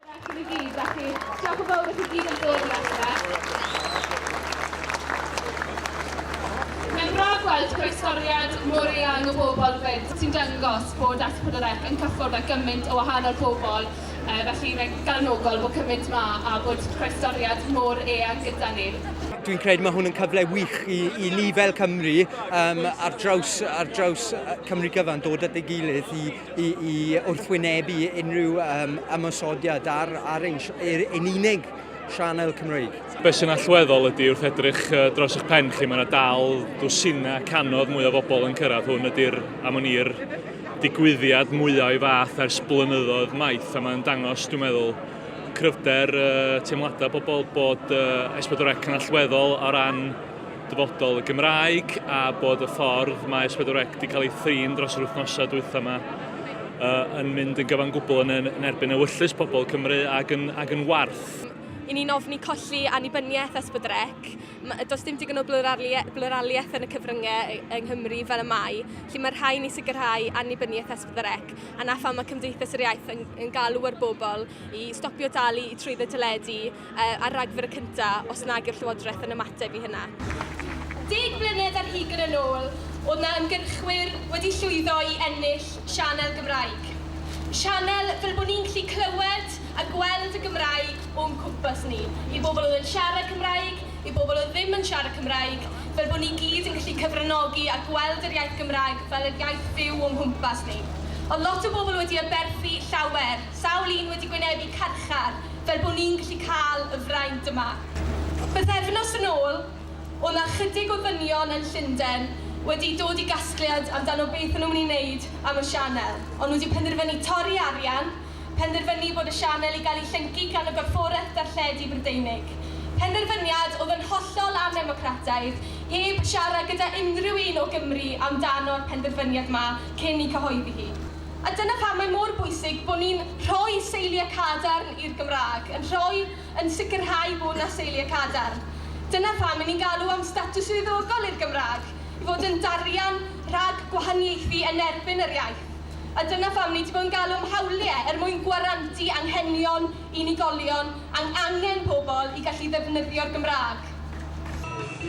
Diolch i chi gyd, felly diolch yn fawr i chi gyd am ddod i adre. Mae'n braf gweld croestoriad mor eang o bobl 'fyd, sy'n dangos bod S4C yn cyffwrdd â gymaint o wahanol bobl, felly mae'n galonogol bod cymaint yma a bod croestoriad mor eang gyda ni. Dwi'n credu mae hwn yn cyfle wych i, i ni fel Cymru um, ar, draws, ar draws Cymru gyfan dod at ei gilydd i i, i wrthwynebu unrhyw um, ymosodiad ar, ar ein, er, ein unig sianel Cymreig. Be sy'n allweddol ydy wrth edrych dros eich pen chi, mae yna dal dwsinau canodd mwy o bobl yn cyrraedd hwn ydy'r am o'n i'r digwyddiad mwyaf o'i fath ers blynyddoedd maith a mae'n dangos, dwi'n meddwl, cryfder uh, teimladau bobl bod uh, S4C yn allweddol o ran dyfodol y Gymraeg a bod y ffordd mae S4C wedi cael ei thrin dros yr wythnosau dwytha yma uh, yn mynd yn gyfan gwbl yn, yn erbyn ewyllus pobl Cymru ac yn, ac yn warth. I ni'n ofni colli annibyniaeth S4C. Does dim digon o bluraliaeth yn y cyfryngau yng Nghymru fel y mae, lle mae'r rhain i sicrhau annibyniaeth S4C, a na pham mae Cymdeithas yr Iaith yn, yn galw ar bobl i stopio dalu i trwyddo teledu uh, ar ragfyr y cyntaf os nag yw'r Llywodraeth yn ymateb i hynna. Deg mlynedd ar hugen yn ôl, oedd na ymgyrchwyr wedi llwyddo i ennill sianel Gymraeg. Sianel fel bod ni'n gallu clywed a gweld y Gymraeg o'n cwmpas ni, i bobl oedd yn siarad Cymraeg, i bobl oedd ddim yn siarad Cymraeg, fel bod ni gyd yn gallu cyfranogi a gweld yr iaith Gymraeg fel yr iaith fyw o'n nghwmpas ni. Ond lot o bobl wedi aberthu llawer Sawl un wedi gwynebu carchar fel bod ni'n gallu cael y fraint yma? Bythefnos yn ôl, oedd 'na ychydig o ddynion yn Llundain wedi dod i gasgliad amdano beth o'n nhw'n mynd i wneud am y sianel, o'n nhw wedi penderfynu torri arian, penderfynu bod y sianel i gael ei llyncu gan y Gorfforaeth Darlledu Brydeinig. Penderfyniad oedd yn hollol annemocrataidd, heb siarad gyda unrhyw un o Gymru amdano'r penderfyniad 'ma cyn 'i cyhoeddi hi. A dyna pam mae mor bwysig bod ni'n rhoi seiliau cadarn i'r Gymraeg, yn rhoi, yn sicrhau bod 'na seiliau cadarn. Dyna pam 'yn ni'n galw am statws swyddogol i'r Gymraeg, i fod yn darian rhag gwahaniaethu yn erbyn yr iaith. A dyna pham ni 'di bod yn galw am hawliau er mwyn gwarantu anghenion unigolion, ang- angen pobl i gallu ddefnyddio'r Gymraeg.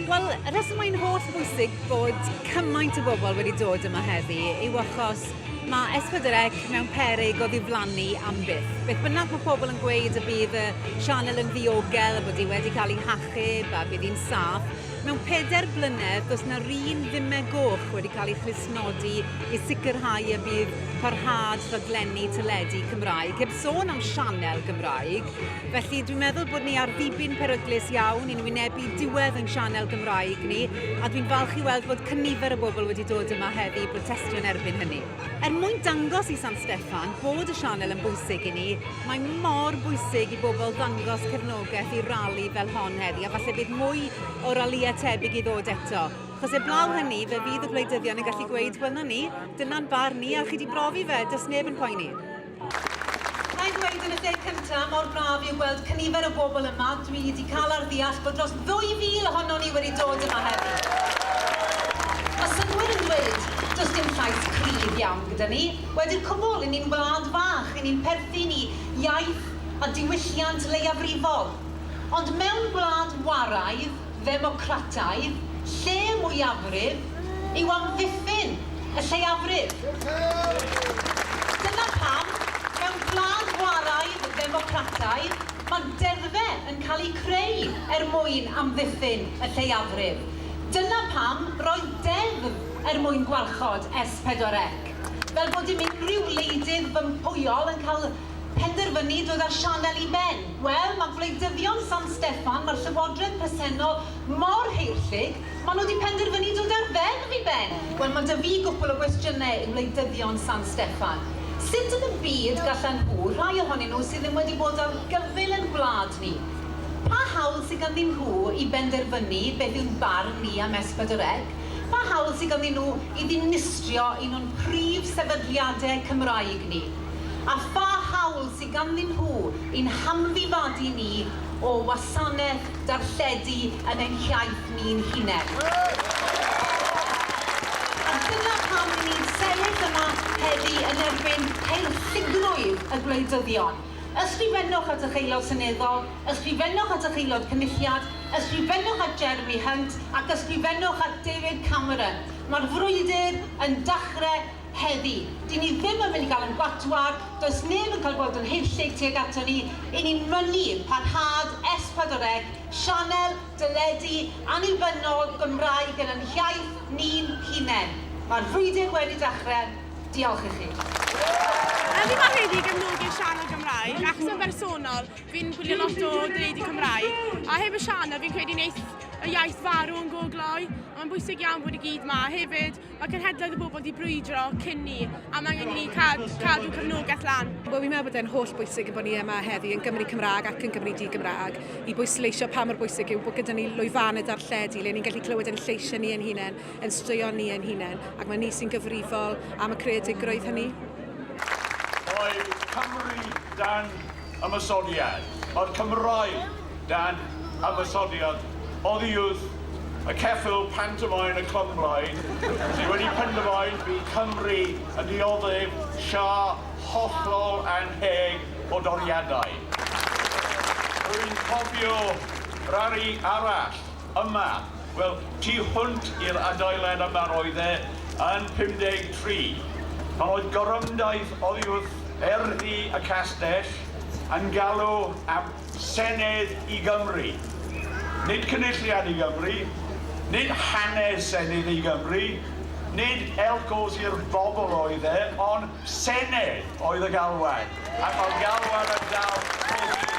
Wel, y rheswm mae'n holl bwysig bod cymaint o bobl wedi dod yma heddi yw achos mae S4C mewn peryg o ddiflannu am byth. Beth bynnag mae pobl yn gweud y bydd y sianel yn ddiogel, a bod hi wedi cael ei hachub a bydd hi'n saff, mewn pedair blynedd does na run dime goch wedi cael ei chlustnodi i sicrhau y bydd parhad rhaglenni teledu Cymraeg, heb sôn am sianel Gymraeg, Felly dwi'n meddwl bod ni ar ddibyn peryglus iawn i'n wynebu diwedd yn sianel Gymraeg ni, a dwi'n falch i weld fod cynifer y bobl wedi dod yma heddi i brotestio yn erbyn hynny. Er mwyn dangos i San Steffan bod y sianel yn bwysig i ni, mae mor bwysig i bobl ddangos cefnogaeth i rali fel hon heddi, a falle bydd mwy o ralïau tebyg i ddod eto. Chos eblaw hynny, fe fydd y gwleidyddion yn gallu gweud, wel 'na ni, dyna'n barn ni, a chi wedi brofi fe, does neb yn poeni. Ga i ddweud yn y lle cyntaf, mor braf yw gweld cynifer o bobl yma, dwi wedi cael ar ddeall bod dros 2,000 ohonon ni wedi dod yma heddi. Mae synnwyr yn dweud, does dim llais cryf iawn gyda ni, wedi'r cwbl, 'yn ni'n wlad fach, 'yn ni'n perthyn i iaith a diwylliant leiafrifol. Ond mewn gwlad waraidd, ddemocrataidd lle mwyafrif yw amddiffyn y lleiafrif. Dyna pam, mewn gwlad chwaraeaidd ddemocrataidd, mae'n deddfe yn cael ei creu er mwyn amddiffyn y lleiafrif. Dyna pam roedd deddf er mwyn gwarchod S4C. Fel bod dim unrhyw wleidydd fympwyol yn cael penderfynu dod â'r sianel i ben? Wel, mae gwleidyddion San Steffan, mae'r llywodraeth presennol mor heirllug, maen nhw wedi penderfynu dod â'r ddeddf i ben! Wel, mae 'da fi gwpwl o gwestiynau i wleidyddion San Steffan. Sut yn y byd gallan nhw, rhai ohonyn nhw sydd ddim wedi bod ar gyfyl yn gwlad ni, pa hawl sy ganddyn nhw i benderfynu beth yw'n barn ni am S4C? Pa hawl sy ganddyn nhw i ddinistrio un o'n prif sefydliadau Cymraeg ni? a pha hawl sydd ganddyn nhw i'n hamddifadu ni o wasanaeth darlledu yn ein hiaith ni'n hunain. A dyna pam ry'n ni'n sefyll yma heddi yn erbyn peilltigrwydd y gwleidyddion. Ysgrifennwch at eich Aelod Seneddol, ysgrifennwch at eich Aelod Cynulliad, ysgrifennwch at Jeremy Hunt ac ysgrifennwch at David Cameron. Mae'r frwydr yn dachrau. Heddi, dyn ni ddim yn mynd i gael ein gwatwar, does neb yn cael gweld yn haethlig tuag aton ni, y'n ni'n mynnu parhad S4C, sianel deledu annibynnol Gymraeg yn yn hiaith ni'n hunain. Mae'r frwydr wedi dechrau. Diolch i chi. Heddi mae Heddi i gefnogi'r sianel Gymraeg, achos yn bersonol, fi'n gwylio lot o deledu Cymraeg, a heb y sianel fi'n credu wneith y iaith farw yn go gloi, ond mae'n bwysig iawn bod i gyd ma, hefyd Mae cenhedloedd y bobl wedi brwydro cyn ni, a mae angen i ni cadw, cadw cefnogaeth lan. Wel, fi'n meddwl bod e'n holl bwysig yn bod ni yma heddi yn Gymru Cymraeg ac yn Gymru Di-Gymraeg i bwysleisio pa mor bwysig yw bod gyda ni lwyfaned ar lledu le ni'n gallu clywed ein lleisiau ni ein hunain, yn straeon ni ein hunain, ac mae ni sy'n gyfrifol am y creadigrwydd hynny. Mae Cymru dan ymosodiad o'r Cymraeg dan ymosodiad oddiwrth y ceffyl pantomeim y Clwb Blaid sydd wedi penderfain bydd Cymru yn dioddef siâr hollol annheg o doriadau. Rwy'n cofio rali arall Yma, wel, tu hwnt i'r adeilad yma roedd e yn 53. Pan oedd gorymdaith oddiwrth erddi y castell yn galw am Senedd i Gymru. Nid Cynulliad i Gymru, nid hanes Senedd i Gymru, nid elcos i'r bobl oedd e, ond Senedd oedd y galwad, ac mae'r galwad yn dal pob dydd.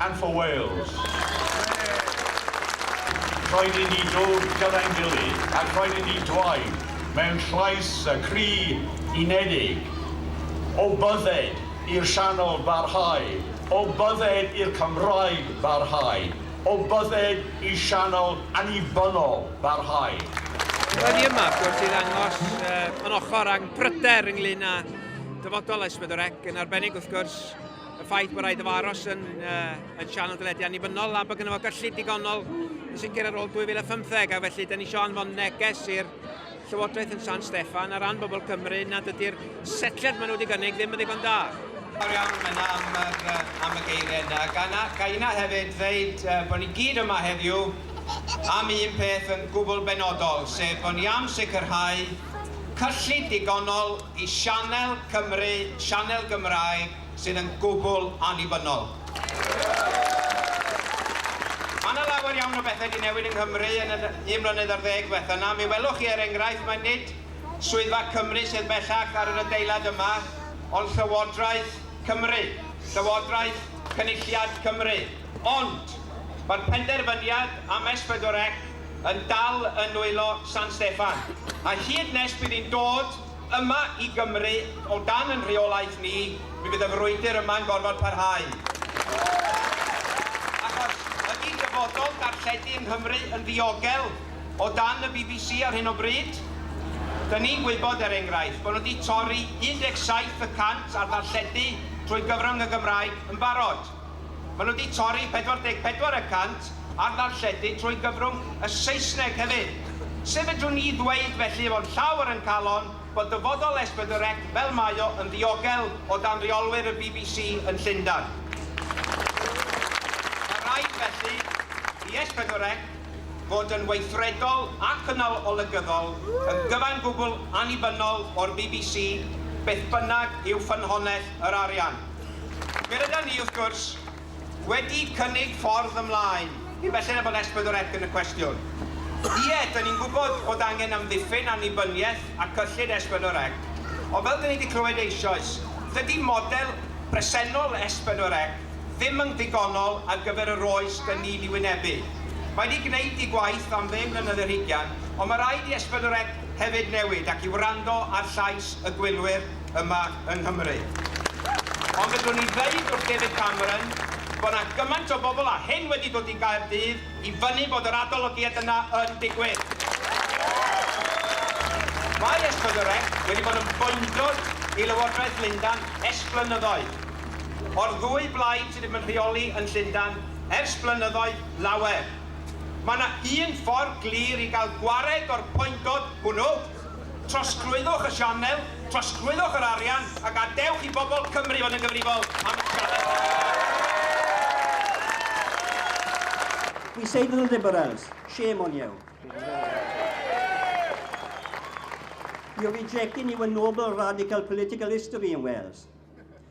and for Wales. Rhaid i ni ddod gyda'n gilydd ac rhaid i ni dwaud mewn llais y cri unedig, O bydded i'r Sianel barhau, o bydded i'r Cymraeg barhau, o bydded i sianel annibynnol barhau. Roedd hi yma, wrth gwrs, i ddangos yn ochr â'n pryder ynglŷn â dyfodol S4C, yn arbennig, wrth gwrs, y ffaith bod rhaid efo aros yn, uh, yn sian o dylediau annibynnol a bod gyda fo gyllid digonol yn sicr ar ôl 2015 a felly dyn ni eisiau anfon neges i'r Llywodraeth yn San Steffan ar ran bobl Cymru nad ydy'r setliad maen nhw wedi gynnig ddim yn ddigon da. Fawr iawn yna am, yr, am y geiriau yna. Gana, ga yna hefyd ddeud uh, bod ni gyd yma heddiw am un peth yn gwbl benodol, sef bod ni am sicrhau cyllid digonol Y sianel Cymru, sianel Gymraeg sydd yn gwbl annibynnol. Mae 'na lawer iawn o bethau 'di newid yng Nghymru yn yr un mlynedd ar ddeg ddiwetha' 'na. Mi welwch chi er enghraifft mae nid Swyddfa Cymru sydd bellach ar yr adeilad yma ond Llywodraeth Cymru, Llywodraeth Cynulliad Cymru. Ond, mae'r penderfyniad am S4C yn dal yn nwylo San Steffan, a hyd nes bydd hi'n dod yma i Gymru o dan yn rheolaeth ni, mi fydd y frwydr yma'n gorfod parhau. Achos, ydy dyfodol darlledu yng Nghymru yn ddiogel o dan y bbc ar hyn o bryd? Dyn ni'n gwybod, er enghraifft, bod nhw wedi torri 17 y cant ar ddarlledu trwy gyfrwng y Gymraeg yn barod. Maen nhw wedi torri 44 y cant ar ddarlledu trwy gyfrwng y Saesneg hefyd. Sut fedrwn ni ddweud felly efo'n llawr yn calon bod dyfodol S4C fel mae o yn ddiogel o dan reolwyr y bbc yn Llundain? Mae rhaid felly i S4C fod yn weithredol a chynnal olygyddol, yn gyfan gwbl annibynnol o'r bbc, beth bynnag yw ffynhonnell yr arian. Fe rydan ni, wrth gwrs, wedi cynnig ffordd ymlaen, cyn belled â bod S4C yn y cwestiwn. Ie, dŷn ni'n gwybod bod angen amddiffyn annibyniaeth a cyllid S4C, ond fel dŷn ni wedi clywed eisoes, dydy model presennol S4C ddim yn ddigonol ar gyfer yr oes dŷn ni'n ei wynebu. Mae wedi gwneud ei gwaith am ddeng mlynedd ar hugain, ond mae rhaid i S4C hefyd newid ac i wrando ar llais y gwylwyr. yma yng Nghymru. Ond fedrwn i ddeud wrth David Cameron bod 'na gymaint o bobl a hyn wedi dod i Gaerdydd i fynnu bod yr adolygiad yna yn digwydd. Mae Esblygyrex wedi bod yn boendwr i Lywodraeth Lundan ers blynyddoedd. O'r ddwy blaid sydd wedi bod yn rheoli yn Llundan ers blynyddoedd lawer, mae 'na un ffordd glir i gael gwared o'r poendod hwnnw, Trosglwyddwch y sianel, trosglwyddwch yr arian a gadewch i bobl Cymru fod yn gyfrifol am y sianel hon. We say to the Liberals, shame on you. You're rejecting even noble radical political history in Wales.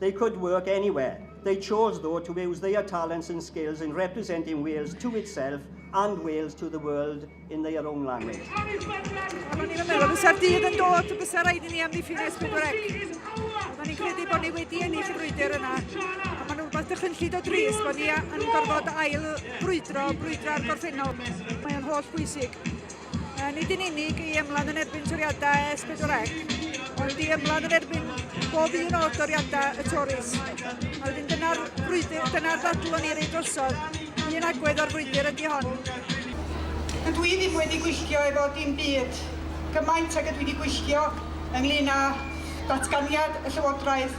They could work anywhere. They chose, though, to use their talents and skills in representing Wales to itself and Wales to the world in their own language. Oedden ni'n meddwl, bysa'r dydd yn dod, bysa rhaid i ni amddiffyn nes pedwar ec. Oedden ni'n credu bod ni wedi ennill y brwydr yna. Ond maen nhw'n rhywbeth dychynllid o dris bod ni yn gorfod ail brwydro, brwydro ar gorffennol. Mae'n holl bwysig. Nid yn unig i ymladd yn erbyn toriadau S4C, ond i ymladd yn erbyn bob un o'r doriadau y Tories. A wedyn dyna'r brwydr, dyna'r ddadl o'n i rei drosodd. Un agwedd o'r frwydr ydy hon. Dydw i ddim wedi gwylltio efo dim byd gymaint ag ydw i wedi gwylltio ynglŷn â datganiad y Llywodraeth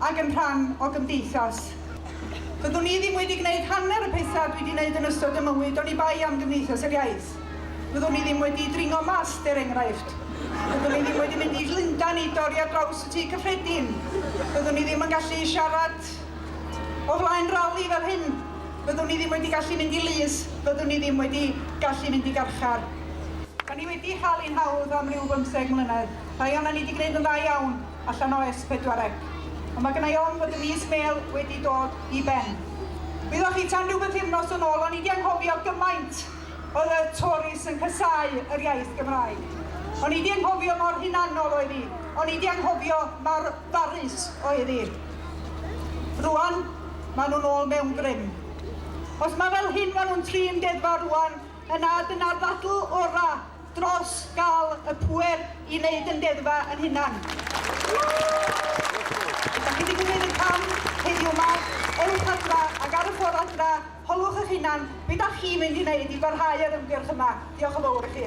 ac yn rhan o gymdeithas. Fyddwn i ddim wedi gwneud hanner y pethau dwi wedi gwneud yn ystod y mywyd oni bai am Gymdeithas yr Iaith. Fyddwn i ddim wedi dringo mast, er enghraifft. Fyddwn i ddim wedi mynd i Llundain i dorri ar draws y Tŷ Cyffredin. Fyddwn i ddim yn gallu siarad o flaen rali fel hyn. Fyddwn i ddim wedi gallu mynd i lys. Fyddwn i ddim wedi gallu mynd i garchar. Da ni wedi cael ein hawdd am ryw bymtheg mlynedd. Rhai ohonan ni wedi gwneud yn dda iawn. allan o S4C, ond mae gennai ofn fod y mis mêl wedi dod i ben. Wyddoch chi tan rhyw bythefnos yn ôl, o'n i wedi anghofio gymaint oedd y Tories yn casau yr iaith Gymraeg. O'n i wedi anghofio mor hunanol oedd hi, o'n i wedi anghofio mor barus oedd hi. Rwan, maen nhw'n ôl mewn grym. Os mae fel hyn maen nhw'n trin deddfa rwan, yna dyna'r ddadl orau dros gael y pŵer i wneud yn deddfa yn hunan. Dach chi wedi gwneud y cam heddiw yma, ewch adra ac ar y ffordd adra, holwch eich hunan beth dach chi'n mynd i wneud i barhau yr ymgyrch yma. Diolch yn fawr i chi.